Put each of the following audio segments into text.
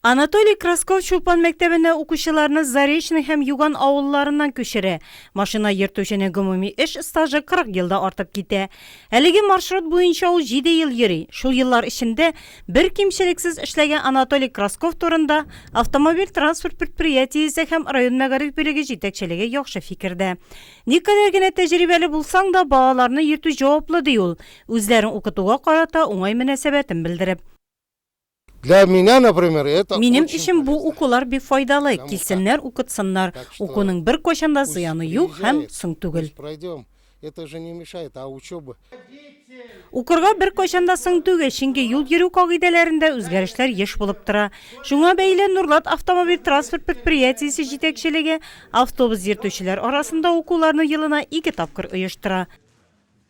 Анатолий Красков Чулпан мәктәбенә укучыларны Заречный һәм Юган авылларыннан күчерә. Машина йөртүченең гомуми эш стажы 40 елда артып китә. Әлеге маршрут буенча ул җиде ел йөри. Шул еллар эчендә бер кимчелексез эшләгән Анатолий Красков турында Автомобиль-транспорт предприятиесе һәм район мәгариф бүлеге җитәкчелеге яхшы фикердә. Никадәр генә тәҗрибәле булсаң да, балаларны йөртү җаваплы, ди ул, үзләрен укытуга карата уңай мөнәсәбәтен белдереп. Минем өчен бу укулар бик файдалы, килсеннәр, укытсыннар, укуның беркайчан да зыяны юк һәм соң түгел. Укырга беркайчан да соң түгел, чөнки юл йөрү кагыйдәләрендә үзгәрешләр еш булып тора. Шуңа бәйле Нурлат автомобиль транспорт предприятиесе җитәкчелеге автобус йөртүчеләр арасында укуларны елына ике тапкыр оештыра.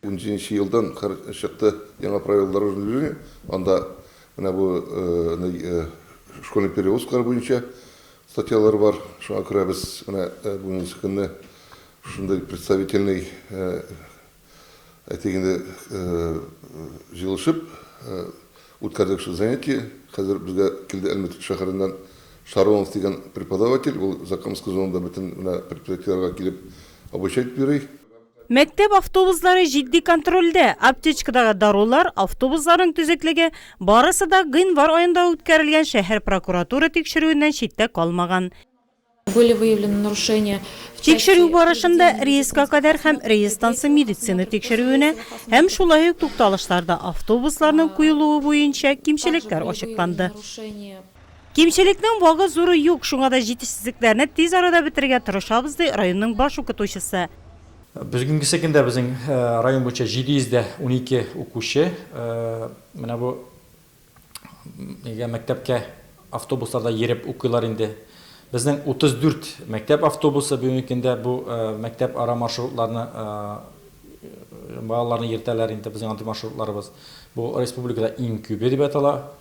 Унҗиденче елдан хр чыкты яңа правила дорожного движения, анда менә бу школьный перевозкалар буенча статьялар бар, шуңа күрә без менә бүгенге көнне шундый представительный әйтик инде җыелышып үткәрдек шул занятие, хәзер безгә килде Әлмәт шәһәреннән Шаронов дигән преподаватель, ул Закамская зонада бөтен менә предприятиеләргә килеп обучать йөри. Мәктәп автобуслары җитди контрольдә, аптечкадагы дарулар, автобусларның төзеклеге, барысы да гыйнвар аенда үткәрелгән шәһәр прокуратура тикшерүеннән читтә калмаган. Были выявлены нарушения в части Тикшерү барышында рейска кадәр һәм рейстансы медицина тикшерүенә һәм шулай ук тукталышларда автобусларның куелуы буенча кимчелекләр ачыкланды. Кимчелекнең багы зуры юк, шуңа да җитешсезлекләрне тиз арада бетерергә тырышабыз, ди районның баш укытучысы. Бүгенгесе көндә безнең район буенча 712 укучы менә бу мәктәпкә автобусларда йөреп укыйлар инде. Безнең 34 мәктәп автобусы бүгенге көндә бу мәктәпара маршрутларны балаларны йөртәләр инде, безнең андый маршрутларыбыз бу республикада иң күбе дип атала.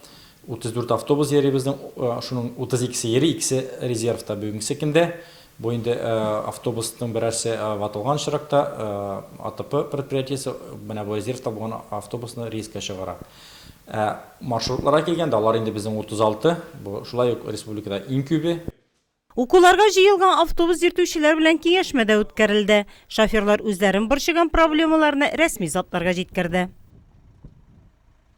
34 автобус йөри безнең, шуның 32-се йөри, икесе резервта бүгенге көндә. Бу инде автобусның берәрсе ватылган очракта АТП предприятиесе менә бу резервта булган автобусны рейска чыгара. Ә маршрутларга килгәндә, алар инде безнең 36, бу шулай ук республикада иң күбе. Укуларга җыелган автобус йөртүчеләр белән киңәшмә дә үткәрелде. Шоферлар үзләрен борчыган проблемаларны рәсми затларга җиткерде.